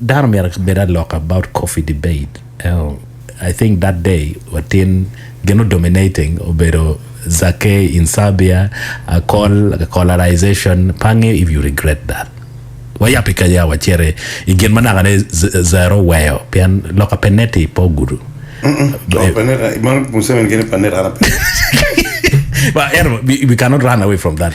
Dano myero ki bed alok about coffee debate and I think that day watin gino dominating obedo Zake in Serbia akol colarization pange if you regret that wayab i kenya waciti i gin ma naka ne zero oweyo pien loka pe neti pe ogudu meno Museveni gene pa net an ape. Well anyway we cannot run away from that.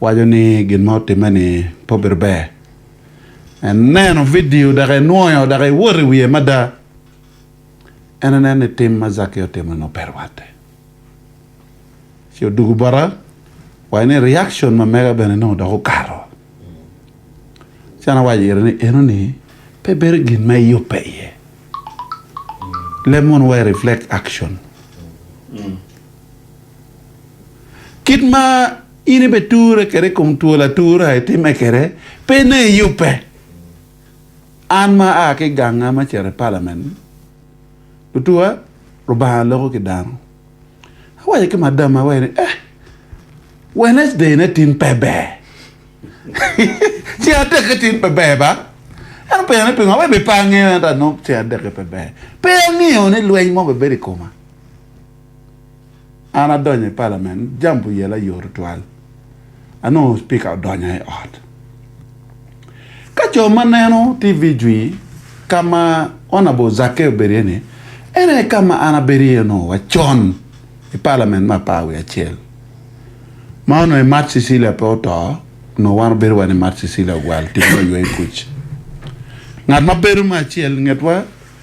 waco ni gin ma otimme-ni pe obedo ber. Eneno vidio dok enwoyo dok ewoto i wiye mada. En eneno ni tim ma Zakeyo otimo-ni ope rwatte. Ci odwogo bota, waco ni reaction ma mega bene nongo dok okato. Ci an awaco ire ni, Enoni pe bedo gin ma iyubbe iye. Lem mono wa i reflect action. Kit ma in ibeture kwede i kom twol atura itimme kwede, pene iyubbe. An ma aa ki i ganga me cito i palamen, lutuwa, Lubanga loko ki dano. Awaco ki madamma wai ni, Eh, Wednesday-ne tin pe ber. Ceng adek-ki tin pe ber ba? En openyo ni, Pingo? Awaco ni, Pe angeyo, ento anongo ceng adek-ki pe ber. Pe angeyo ni lweny mo bibedo i koma. An adonyo i palamen jam pi oyela yot tutwal. Anongo Cpika odonyo i ot. Ka co ma neno TV jwi ka ma Honourable Zakke obedo iye ni, en aye ka ma an abedo iye onongo wa con i palamen me apar wiye acel. Ma onongo i Mat Cecilia pe oto, onongo wan obedo wa ni Mat Cecilia ogwal tic me yweyo kuc. Ngat ma bedo me acel ingetwa,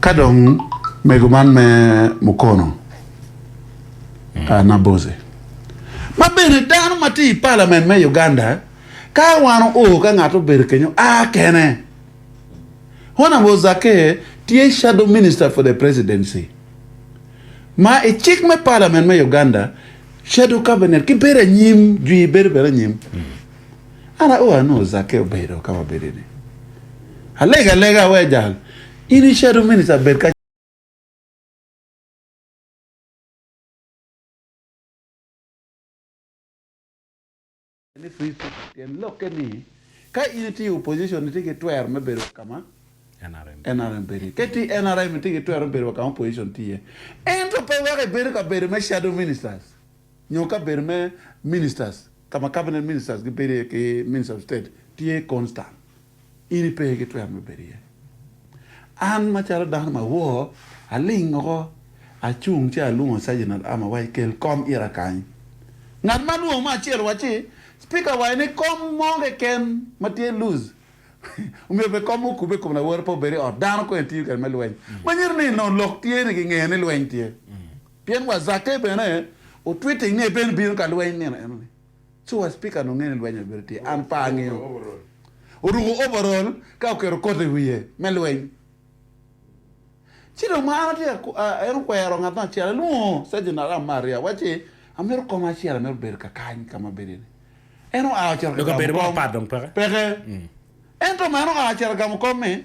Ka dong mego man me Mukono Nabbozi ma bene dano ma tye i palament me Uganda ka wano oo ka ngat obedo kenyo a kene. Hon Abo Zake tye Shadow Minister for the Presidency ma i cik me palament me Uganda Shadow Cabinet ki bedo anyim jwi bedo bene anyim. An aoro anongo Zakeo bedo ka wabedini. Alego alega awe jal, in i shadow minister bed ka. Ni free speech tyen lokke ni ka in itye i opposition itye ki twero me bedo wa kama NRM bedo iye. Ka itye i NRM itye ki twero me bedo wa kama opposition tye iye. Ento pe weko ibedo ka bedo me shadow ministers. nyo kabedo me Ministers ka ma Cabinet Ministers gibedo iye ki Minister of State tye constant, in ipe gitwero me bedo iye. An macalo dano ma awor, aling woko, acung ci alwongo Sergeant at Arm awaci, Kel kom ira kany. Ngat ma alwongo me acel owacci, Speaker owaco ni kom mo keken ma tye loose omyero obed kom ma okubbe i kom lawote pe obed i ot dano kong etiyo kwede me lweny. Manyuto ni nongo lok tye ni gingeyo ni lweny tye. Pien wa Zake bene otwite inge bene bino ka lweny nino enoni co wa speaker nonge ni lweny obedo tye an pe angiyo oruko overall ka oketo coat iwiye me lweny ci dong ma an atye en okwero ngat mo acel alwongo sergeant aram me aryo wacci amito koma acel amito bedo ka kany ka ma bedo ni en oa ocito ka gamo kom peke ento ma en oa ocito gamo kom mi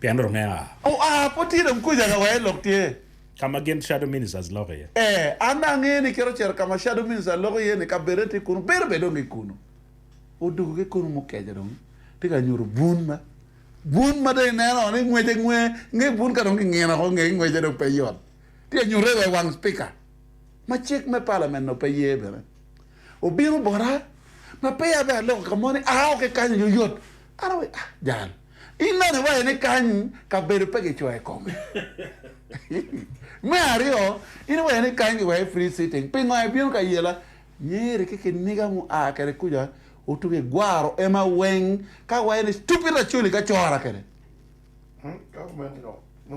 Pien rom me a. Oa pe tye dong kuca ka wee lok tye. Ka ma gin shadow ministers loko iye. Ee, an dong angeyo ni kit ocito ka ma shadow ministers loko iye ni kabedone tye kunu, bino bene dong ki kunu. Odoko ki kunu mukeca dong tye ka nyuto bun ma, bun ma dong ineno woko ni ngwece nge, nge bun ka dong kingino woko ngeye ngwece dong pe yot. Tye ka nyutte wa i wang Speaker ma cik me Parliament nongo pe ye bene. Obino bota ma peya abea aloko ka mo ni a woko ki kany aye oyot. An awaco ni, ah, jal. Ineno iwaco ni kany kabedo pe gicoyo i kome. Me aryo, in iwaco ni kany giweko i free sitting. Pingo ibino ka yela? Meri ki kiniga mua kwede kuca otugo i gwaro ema weng ka waco ni stupid Acholi ka cora kwede.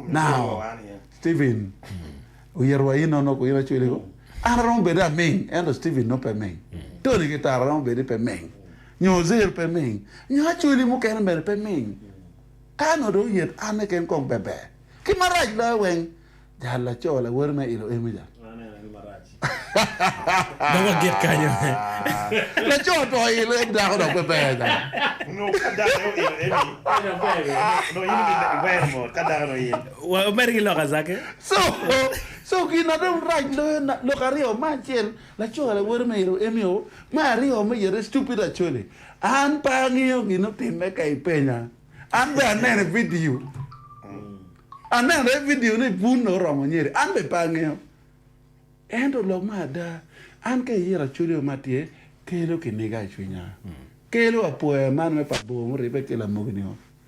Now, Steven, oyito wa in nono ku in Acholi ko. An aromo bedo aming ento Steven nongo pe ming. Tony ki Tara romo bedo ni pe ming. Nyo zer pe ming. Nyo acholi mukene mere pe ming. Ka nongo dong yet anne ken kong beber. Ki marac loyo weng. Jal laco lawoti me ilo emi ja. Dong wagit kanyo. Laco to ilo emi dako dok pe ber ja. Nyo ka dako aye oilo emi. Pe dok ber bene. Nongo in eni i wer mo ka dako dong in. Wa omedde ki lok azake. So, so gin na dong rac loyo na lok aryo ma acel Laco lawote me Euemio me aryo ma yite Stupid Acholi, An pe angeyo gin otimme ka ipenya. An bene aneno i vidio. Aneno i vidio ni Bunno oromo nyeri. An bene pe angeyo. Ento lok me ada, an ka iyira Acholi-o ma tye, kelo kiniga i cwinya. Kelo apoya man me pa bor muribbe ki lamogi-ni-o.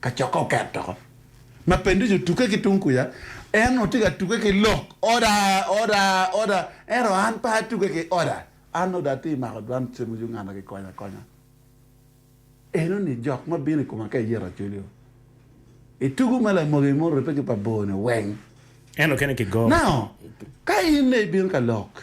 Kacokke oket doko ma penducu tuke ki tung kuca, en onongo tye ka tuke ki lok Oda, Oda, Oda, ento an pe atuke ki Oda. An Oda atye mako dwan cemo Uganda kikonya akonya. Enoni jok ma bino i koma ka iyeto acolio. Itugo ma lamogi ma oribbe ki pa bor-ni weng. En okene ki go. Now, ka in ne ibino ka lok,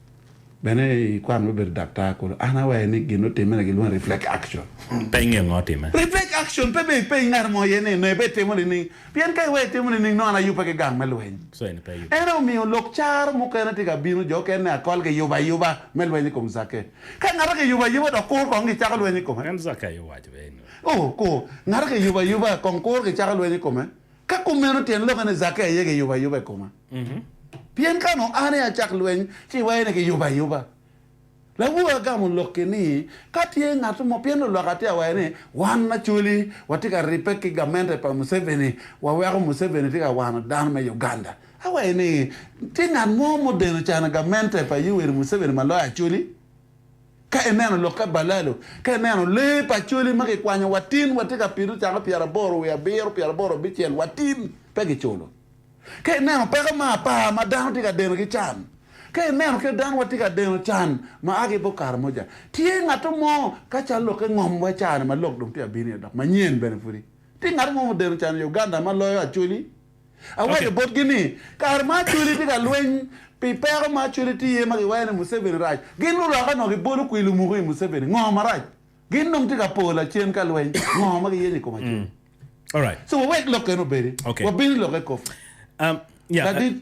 Bene i kwan me bedo daktar kulu, an awaye ni gin otimme na gilwongo ni reflex action. Penge ongo otimme? Reflex action pe bene ipenyi ngat mo iye ni nongo ibe itimo nining? Pien ka iwee itimo nining nongo an ayubbe ki gang me lweny. En aye omiyo lok caro mukene tye ka bino jo okene ni akol giyubo ayuba me lweny i kom Zakke. Ka ngat giyubo ayuba dok kur kong gicako lweny i kome. Oh, kur! Ngat giyubo ayuba kong kur gicako lweny i kome. Ka kumeno, tyen lokke ni Zakke aye kiyubo ayuba i koma. Pien ka onongo an aye acak lweny, ci iwaco ni kiyubo ayuba. Labwor agamo lokki ni, Ka tye ngat mo, pien lulwak atye awaco ni, wan Acholi watye ka ribbe ki gamente pa Museveni, waweko Museveni tye ka wano dano me Uganda. Awaco ni, Tye ngat mo mudeno cano gamente pa Yoweri Museveni ma loyo Acholi? Ka ineno lokke balalo, ka ineno lee pa coli ma kikwanyo watin watye ka pido cako pyeraboro wiye abiro, pyeraboro abicel watin pe kiculo. Ka ineno peko me apar ma dano tye ka deno ki can, ka ineno kit dano watye ka deno can ma a ki bot Karamoja, tye ngatto mo ka cal lokke ngom wa caa-ni ma lok dong tye ka bino iye dok manyen bene pudi. Tye ngatto mo ma odeno can i Uganda ma loyo Acholi? Awaco botgi ni, 'Kare ma Acholi tye ka lweny pi peko ma Acholi tye iye ma giwaco ni Museveni rac, gin luroka nongo gibolo kwir lumuku i Museveni. Ngo marac? Gin dong tye ka po lacen ka lweny. Ngo ma giyenyo i kom Acholi? So wawek lok kene obedi, wabin i lokke koffi.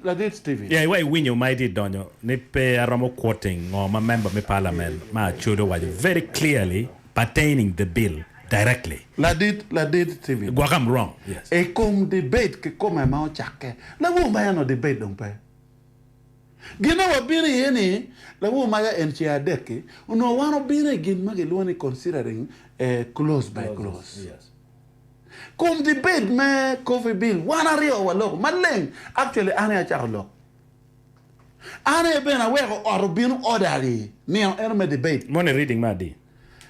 Ladit Stephen. Ya iwa iwinyo ma itye donyo ni pe aromo quoting ngo ma member me parliament ma Acholi owaco very clearly pertaining the bill directly. Ladit, Ladit Steven. Gwok am wrong, yes. I kom debate kikome ma ocakke, Lawu ma eno debate dong pe. Gin ma wabino iye ni, Lawu ma ya en ce adek-ki, onongo wan obino i gin ma gilwongo ni considering a clause by clause. Kom debate me coffee bill, wan aryo waloko maleng, actually an aye acako lok. An aye bene aweko ot obino oda ni nino eno me debate. Moni reading me adi?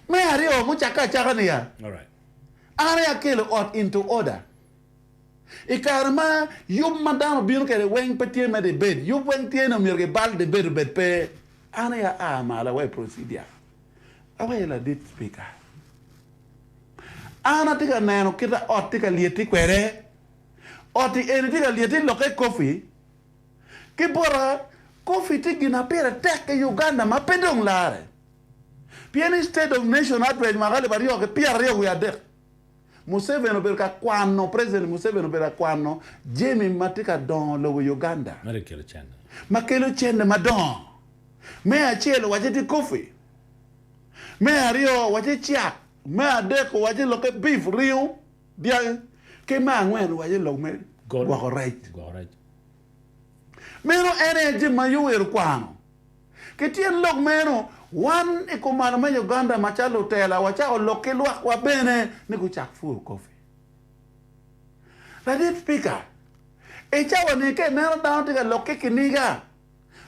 Me aryo mucakke acaka niya, Alright. An aye akelo ot into order. I kare ma yub ma dano obino kwede weng pe tye me debate, yub weng tye ni omyero gibal debate obed pe, an aye aa malo aweyo procedure, aweyo ladit Speaker. An atye ka neno kita ot tye ka lyeti kwede. Oti eni tye ka lyeti lokke coffee. Ki bota, Coffee tye gin ma pire tek i Uganda ma pe dong larre. Pien i State of Nation Address mwaka alip aryo ki pyera aryo wiye adek, Museveni obedo ka kwano, President Museveni obedo ka kwano jami ma tye ka dongo lobo i Uganda ma kelo cente madongo. Me acel owacce tye coffee, me aryo owacce cak, me adek owacce lokke beef, ringo. Dyangi. Ki me angwen waco lok me gwoko rec. Meno en aye jami ma Yoweri okwano. Ki tyen lok meno, wan i kumalo me Uganda macalo lutela wacako lok ki lwakwa bene ni gucak puro kofi. Ladit Pika, i cawani ka ineno dano tye ka lok ki kiniga,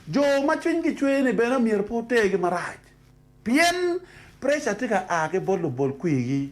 jo ma cwinygi cwer-ni bene myero pe wutergi marac pien preca tye ka a ki bot lubol kwirgi.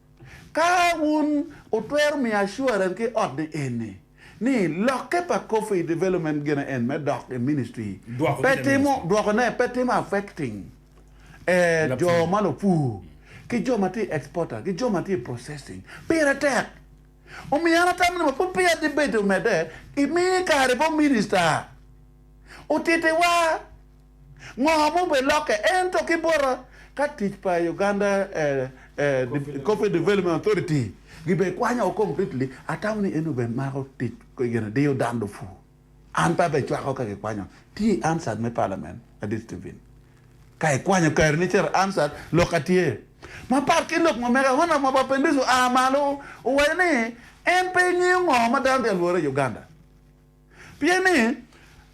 Ka wun wutwero miyo assurance ki ot ni eni, ni lokke pa coffee development gene en me dok i ministry Dwoko pe kite timo, ministry. dwoko ne pe timo affecting e jo Lapur. ma lupur, ki jo ma tye i exporter, ki jo ma tye i processing, pire tek. Omiyo an atamo ni ma pud peya debate omedde, imiye kare bot minister otitiwa. Ngo ma obilokke ento ki bota ka tic pa Uganda Coffee Development Authority gi bene kwanya o completely, atamo ni en obed mako tic gin diyo dan lupur an pe abe cwako ka ki kwanyo tye i answered me parliament adit Steven ka i kwanyo kare ni cito answered lok atye ma pat ki lok ma mega Honourable Mapapendis oa malo owaco ni en pe ngeyo ngo ma dano tye ka lwore i Uganda. Pien ni,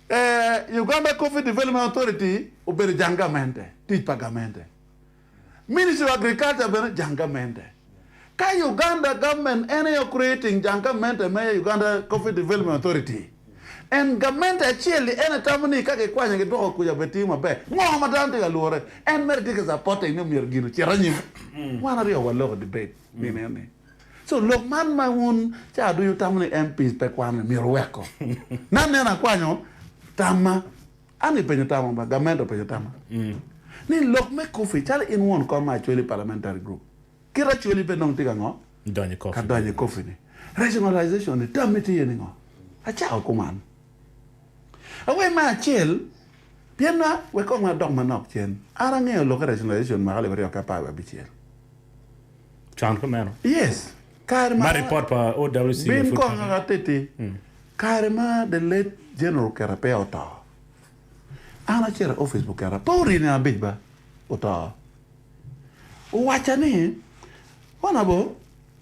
ee, Uganda Coffee Development Authority obedo jang gamente, tic pa gamente. Ministry of Agriculture bene jang gamente. Ka Uganda government en aye ocreating jang gamente me Uganda Coffee Development Authority, and gamente acel-li en aye tamo ni ka gikwanye gidwoko kuca bene tiyo maber, ngo ma dano tye ka lwore? En mere tye ka supporting ni myero gin ocit anyim. Wan aryo waloko debate nino ni. So lok man ma wun cawa ducu wutamo ni MPs pe kwanne myero wuwekko. Ni aneno akwanyo tamma, an i penyo tamma ba, gamente openyo tamma, ni lok me coffee calo in won kom ma Acholi Parliamentary Group, kit Acholi pe dong tye ka ngo? Donyo i coffee. Ka donyo i coffee ni. Rationalization ni tammi tye iye ni ngo? Acako kuman. Awaci me acel, pien na, wek kong adok manok cen, an angeyo lokke rationalization mwaka alip aryo ki apar wiye abicel. Con ki meno, ma ripot pa OWC ma pud kati. Kare ma the late General Kera peya oto, an acito i office pa Kera, pe orine abic ba, oto. Owacca ni, Honourable,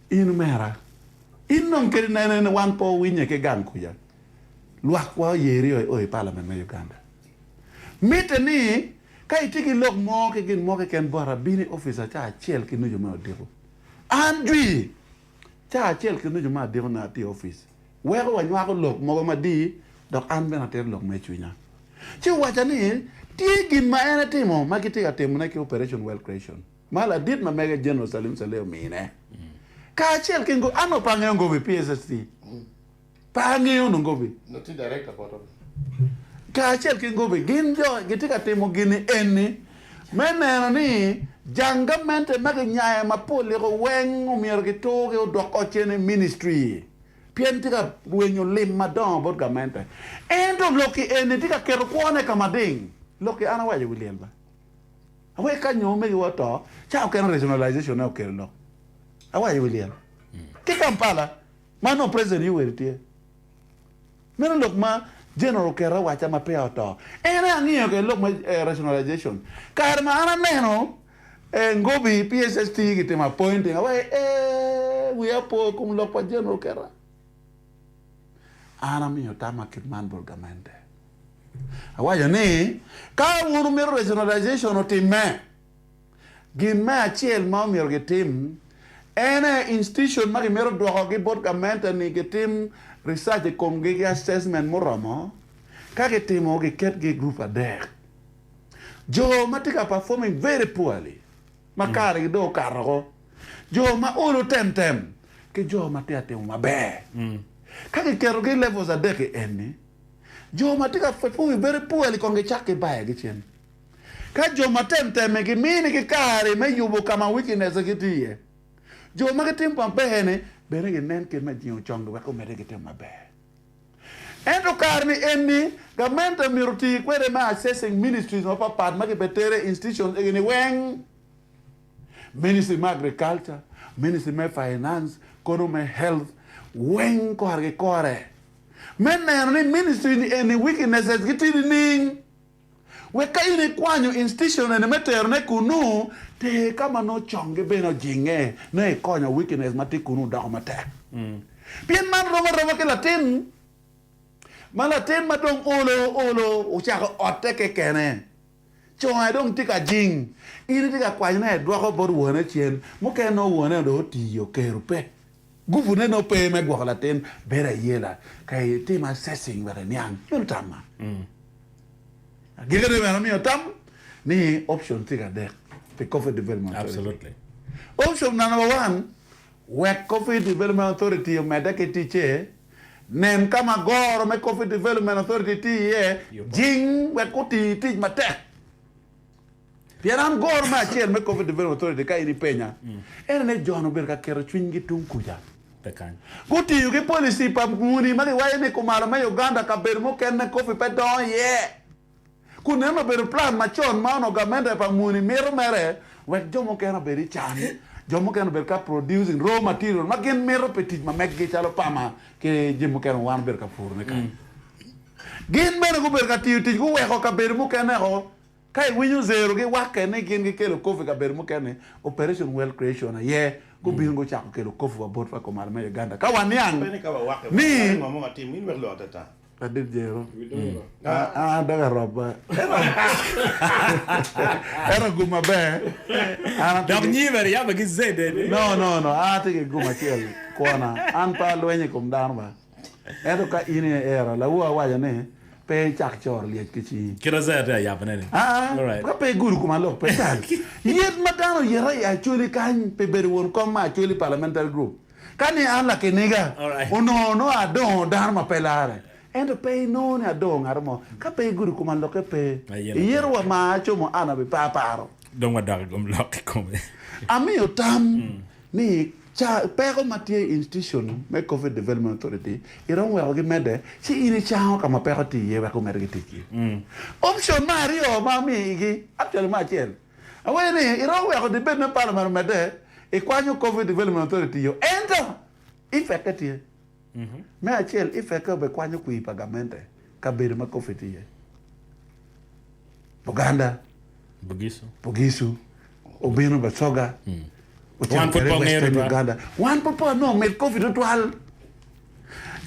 in omera, in dong kadi nene wan pe wawinye ki gang kuca. Lwakwa oye ryo i o i Palament me Uganda. Mitte ni ka itye ki lok mo ki gin mo keken bot abino i opica ca acel ki nucu me odiko. An jwi, ca acel ki nucu me adiko nongo atye i opic. Weko wanywako lok mogo madii dok an bene atito lok ma i cwinya. Ci owaca ni tye gin ma en etimo ma gitye ka timone ki Operation Wealth Creation ma ladit ma mege General Salim Saleh omine kacel ki ngo, an opange ongobo i PSST. Pa angeyo onongo obi. Nongo tye director bot obi. Kacel ki Ngobi gin jo gitye ka timo gini eni me neno ni jang gamente ma ginyayo ma pe oliko weng omyero giturgi odok ot cen i ministry pien tye ka rwenyo lim madongo bot gamente. Ento lokki eni tye ka keto kwone ka mading. Lokki an awaco wi lyel ba. Awaco ka nyo omegiwa oto ca okene rationalization-ne okelo lok. Awaco wi lyel ki Kampala. Ma nongo President Yoweri tye. Meno lok ma General oketo awaca ma peya oto. En aye angiyo kede lok ma rationalization. Kare ma an aneno Ngobi, PSST gitimo appointing awaco ni eeh wiya opo ikom lok pa General oketa. An amiyo tamma kit man bot gamente. Awaco ni ka wun wumito rationalization otimme. Gin me acel ma omyero gitim en aye institution ma gimito dwokogi bot gamente ni gitim research i komgi ki assessment muromo. Ka gitimo, giketgi i group adek. Jo ma tye ka performing very poorly, ma karegi dong okato woko, jo ma olo temtem, ki jo ma tye ka timo maber. Ka giketogi i levels adek-ki eni, jo ma tye ka performing very poorly kong gicak gibayogi cen. Ka jo ma temtemme giminigi kare me yubo ka ma wicinesse gitye iye, jo ma gitimo maber-ni bene ginen kit me jingo congi wek omedde ki timo maber. Ento kare-ni eni, gamente omyero oti kwede me assessing ministries mapatpat ma kibetere i institutions egi-ni weng, Ministry me Agriculture, Ministry me Finance, kono me Health, weng korgi kore, me neno ni ministry-ni eni wicinesse-gi tye nining. Wek ka in ikwanyo institione-ni me terone kunnu, ter ka ma nongo congi bene ojinge nongo ikonyo wikines ma tye kunnu doko matek. Pien man rom aroma ki latin ma latin ma dong olo olo ocako otte kekene. Conge dong tye ka jing, in itye ka kwanyone edwoko bot wone cen mukene nongo wone dong oti, oker, ope. Guvune nongo pe me gwoko latin bedo ayela ka itimo assessing wek iniang meno tam man. Agikine bene omiyo tam ni option tye ki adek pi Coffee Development Authority. Option number one, Wek Coffee Development Authority omedde ki ticce, nen ka ma goro me Coffee Development Authority tye iye, jing wek oti tic matek. Pien an goro me acel me Coffee Development Authority ka in ipenya, en aye jo-ni obedo ka keto cwinygi tung kuca. Gutiyo ki policy pa muni ma giwaco ni kumalo me Uganda kabedo mukene coffee pe dongo iye. Kun neno obedo plan macon ma onongo gamente pa muni mito mere wek jo mukene obed i can, jo mukene obed ka producing raw material ma gin mito pi tic ma meggi calo pama ki jami mukene ma wan obedo ka purone kany. Gin bene gubedo ka tiyo tic guweko kabedo mukene-o. Ka iwinyo zerogi, wakke ni gin gikelo kop i kabedo mukene, Operation World Creation aye gubino gucako kelo kop wa botwa i kom ot me Uganda. Ka waniang ni. Ladit Jero, An dok aroba, ento gum maber, an atye ki. No, no, no, an atye ki gum acel kwona, an pe alwenyo i kom dano ba. Ento ka in aye iero lawu awaco ni, Pe icak coro lyec ki cingi. Kit ma Isaiah tye ka yabone ni. Aa, Alright. ka pe igudo koma lok pe tal. Yet ma dano oyeto i Acholi kany pi bedo won kom ma Acholi Parliamentary Group. Ka ni an lakiniga, Alright. onongo nongo adongo dano ma pe larre. Ento pe inongo ni adongo ngato mo. Ka pe igudo koma lokke pe. Ma yen Iyeto atar. wa ma acomo an abiparparo. Dong wadok i kom lok kikome. Amiyo tam ni ca peko ma tye i Institution me Covid Development Authority iromo weko gimedde ci in icango ka ma peko tye iye wek gumed ki ticgi. Option me aryo ma amiyo igi, actually me acel, awaci ni iromo weko debate me Parliament omedde ikwanyo Covid Development Authority-o ento effect-te tye. Me acel, Ifeke obekwanyo kwir pa gamente kabedo ma Coffee tye iye. Buganda, Bugisu, obino Basoga, ocito kwede Western Uganda. Wan pud pe wanongo mit Coffee tutwal.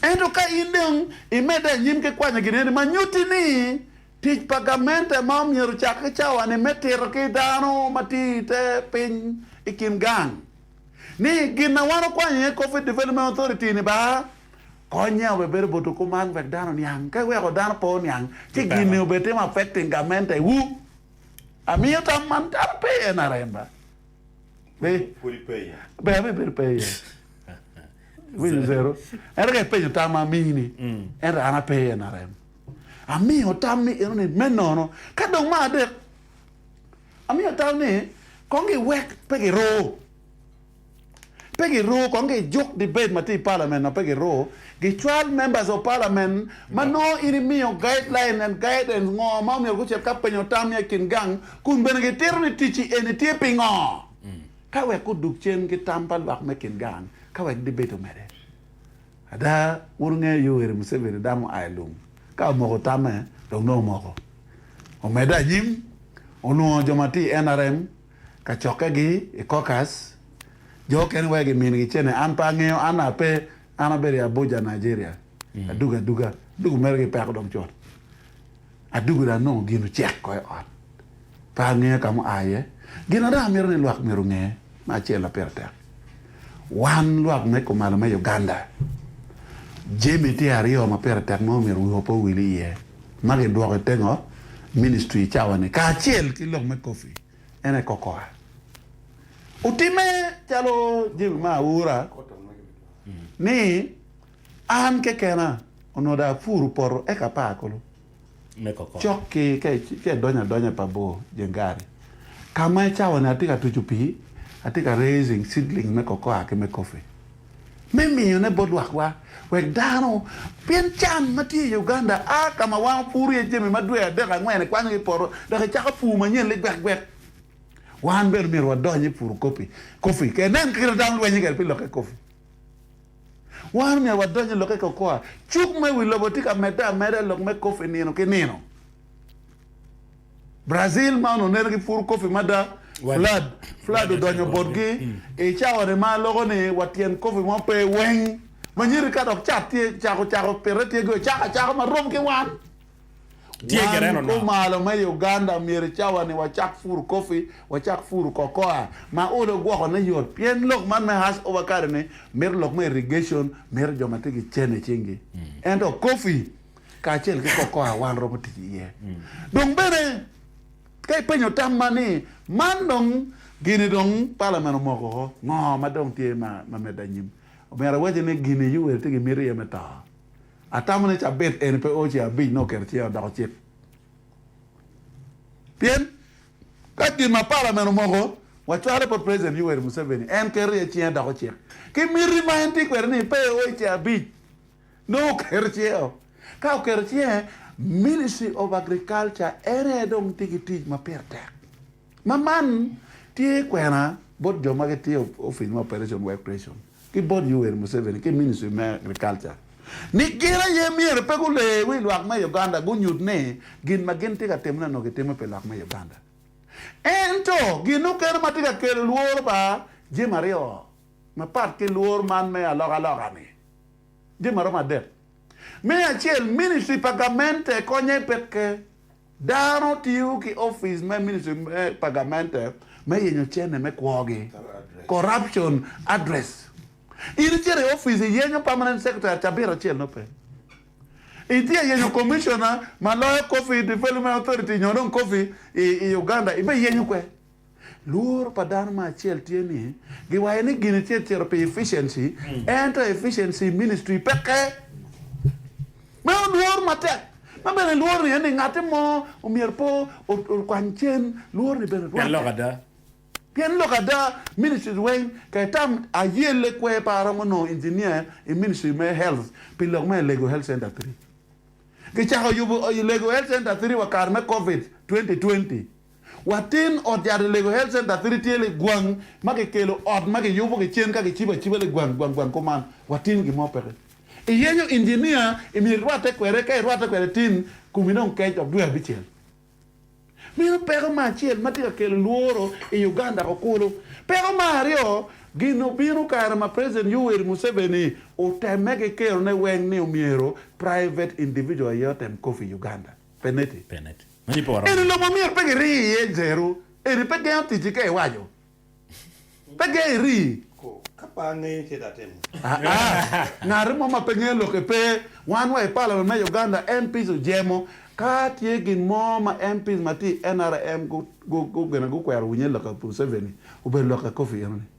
Ento ka in dong imedde anyim ki kwanyo gin eni ma nyutti ni tic pa gamente ma myero ocak ki cawa-ni me tito ki dano ma tye i te piny i kin gang, ni gin ma wan wakwanyo iye Coffee Development Authority-ni ba konye obed bedo bot okuman wek dano oniang. Ka iweko dano pe oniang, ci gin-ni obed timo affecting gamente-wu. Amiyo tam man kadi pe iye NRM ba, be, be abibedo pe iye. Iwinyo zero? Ento ka ipenyo tam ma amini, ento an ape i NRM. Amiyo tam ni enoni me nono. Ka dong me adek, Amiyo tau ni kong giwek pe giruu, pe giruu kong gijuk debate ma tye i parliament ma pe giruu, gicwal members of parliament ma nongo in imiyo guideline and guidance ngo ma omyero gucit ka penyo tam ya i kin gang kun bene gitito ni ticci eni tye pingo ka wek gudug cen ki tam pa lwak me kin gang ka wek debate omede. Ada, wun wungeyo Yoweri Museveni dang oa i lum ka omoko tamme dok nongo omoko. Omedde anyim, olwongo jo ma tye i nrm ka cokkegi i caucus, jo okene wek gimin gicene. An pe angeyo, an ape, an abedo i Abuja, Nigeria, adugo aduga, dok omego gipeko dong cut. Adwogi dong anongo gin ocek ko i ot. Pe angeyo ka mua iye. Gin ma dong amito ni lwak myero gunge me acel ma pire tek, wan lwak me kumalo me Uganda, jami tye aryo ma pire tek ma omyero wiwa pe owil iye ma gidwoko i tengo ministry i cawa ni kacel ki lok me coffee en aye kokoa. Otimme calo Jemmy Maa Aura ni. An kekena onongo dong apuro poto eka apar kulu cok ki ka idonyo adonya pa bor jeng gari ka ma i cawa-ni atye ka tuco pii, atye ka raising seedling me cocoa ki me coffee me miyone bot lwakwa wek dano, pien can ma tye i Uganda a ka ma wan wapuro iye jami ma dwe adek angwen ikwanyogi i poto dok icako pur manyen ligwekgwek. Wan bene myero wadony i puro coffee, ka inen kit ma dano lwenyo kwede pi lokke coffee. Wan omyero wadony i lokke kokoa. Cuk me wi lobo tye ka medde ameda i lok me kofi nino ki nino. Brazil ma onongo neno ki puru kofi mada, flood, flood odonyo botgi. I cawani ma aloko ni wa tyen kofi mo pe weng. Manyiri ka dok cat tye cako cako pite tye gi ocako acaka ma rom ki wan. Wan kumalo me Uganda myero i cawa-ni wacak puru coffee, wacak puru cocoa ma olo gwokone yot pien lok man me Hass over kare-ni mito lok me irrigation, mito jo ma tye ki cene i cingi. Ento coffee kacel ki cocoa wan romo tic iye. Dong bene ka ipenyo tam ma ni, man dong gini dong parliament omoko oko, ngo ma dong tye ma medde anyim? Omyero awacci ni gini Yoweri tye ki miti iye me to. Atamo ni cabit eni pe oce abic nongo oketo cinge odoko cik. Pien ka gin ma palamen omoko wacwale bot President Yoweri Museveni en keto iye cinge doko cik ki miti ma en tye kwede ni pe oce abic nongo oketo cinge o. Ka oketo cinge, Ministry of Agriculture en aye dong tye ki tic ma pire tek. Ma man tye kwena bot jo ma gitye ofic ma Operation Work Ration. ki bot Yoweri Museveni ki Ministry me Agriculture ni gin aye myero pe guler wi lwak me Uganda gunyut ni gin ma gin tye ka timone onongo kitimo pi lok me Uganda. Ento gin mukene ma tye ka kelo lworo pa jemi aryo mapat ki lworo man me alokaloka-ni Jami maromo adek. Me acel, ministri pa gamente konye peke. Dano tiyo ki opic me ministri pa gamente me yenyo cene me kwogi, corruption address. In icito i opic iyenyo permanent secretary cabit acel nongo pe. Itye ka yenyo commissioner ma loyo coffee development authority nyo dong coffee i Uganda ibe iyenyo kwer. Lworo pa dano ma acel tye ni giwayo ni gin tye cito pi efficiency ento efficiency i ministry peke. Meno lwor matek. Ma bene lwor ni ni ngati mo omyero pe okwany cen, lwor ni bene rwatte. Pien lok ada. Pien lok ada, ministries weng ka itam ayelle kwer pe aromo nongo engineer i ministry me health pi lok me Alego Health Center three. Gicako yubo Alego Health Center three wa kare me covid twenty twenty. Watin ot yat i Lego Health Center Three tye ligwang ma kikelo ot ma kiyubo ki cen ka kicibo aciba ligwang gwang gwang kuman. Watin gin mo peke. Iyenyo injinia i myero irwatte kwede ka irwatte kwede tin komi dong kec dok dwe abicel. Meno peko ma acel ma tye ka kelo lworo i Uganda o kulu. Peko ma aryo, gin obino kare ma President Yoweri Museveni otemme ki kerone weng ni omyero private individual aye otem coffee Uganda. Peneti. Eni lobo ma myero pe kirii iye zero, eni pe gengo ticci ka iwaco. Pe gengo irii. Ka pe angeyo ce da atimo. Aa, ngati mo ma pe ngeyo lokke pe. Wan wa i palament me Uganda, MPs ojemo. Ka tye gin mo ma MPs ma tye i NRM gu, gu, gu, gene gukwero winye lokke Museveni, obedo lokke Coffee eno ni.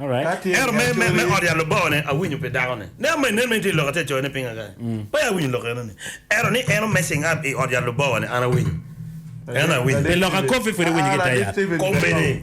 Ento me ot yat Lubongo-ni, awinyo pi dako-ni. Nen ma inen meno tye lok atye ka coyone pinga kany? Pe awinyo lok enoni. Ento ni en omessing up i ot yat Lubongo-ni, an awinyo. Enoni awinyo. Pi lok akopi pwod iwinyo ki i te yat. Kombene.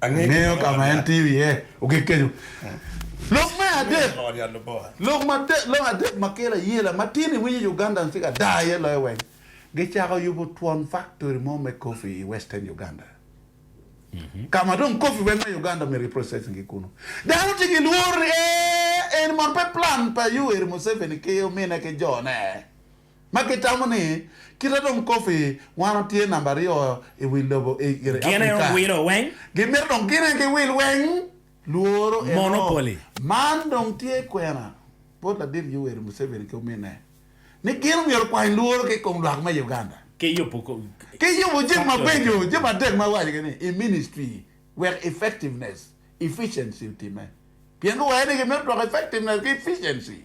Angeyo ka ma en tiyo iye. Ogik kenyo. Lok me adek, lok adek ma kelo ayela ma tin i winyo Ugandans tye ka daa iye loyo weng, gicako yubo twon faktori mo me coffee i Western Uganda, ka ma dong coffee weng me Uganda myero giprocessing ki kunu. Dano tye ki lworo ni ee, eni mono pe plan pa Yoweri Museveni ki omine ki jone? ma gitamo ni kite dong kofi wano tye namba aryo i wi lobo i gire Africa, gimito dong gine ki wil weng lworo eno, man dong tye kwena bot ladit Yoweri Museveni ki ominne ni gin omyero kwany lworo ki kom lwak me Uganda ki yubo jami mabeco jami adek ma iwaco gini i ministry wek effectiveness, efficiency otimme pien guwaco ni gimito dwoko effectiveness ki efficiency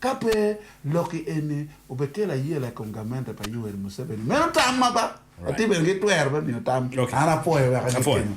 Ka pe, lokki eni obekelo ayela i kom gamente pa Yoweri Museveni. Meno tamma ba. Atye bene ki twero me miyo tam. An apwoyo wek agitingo.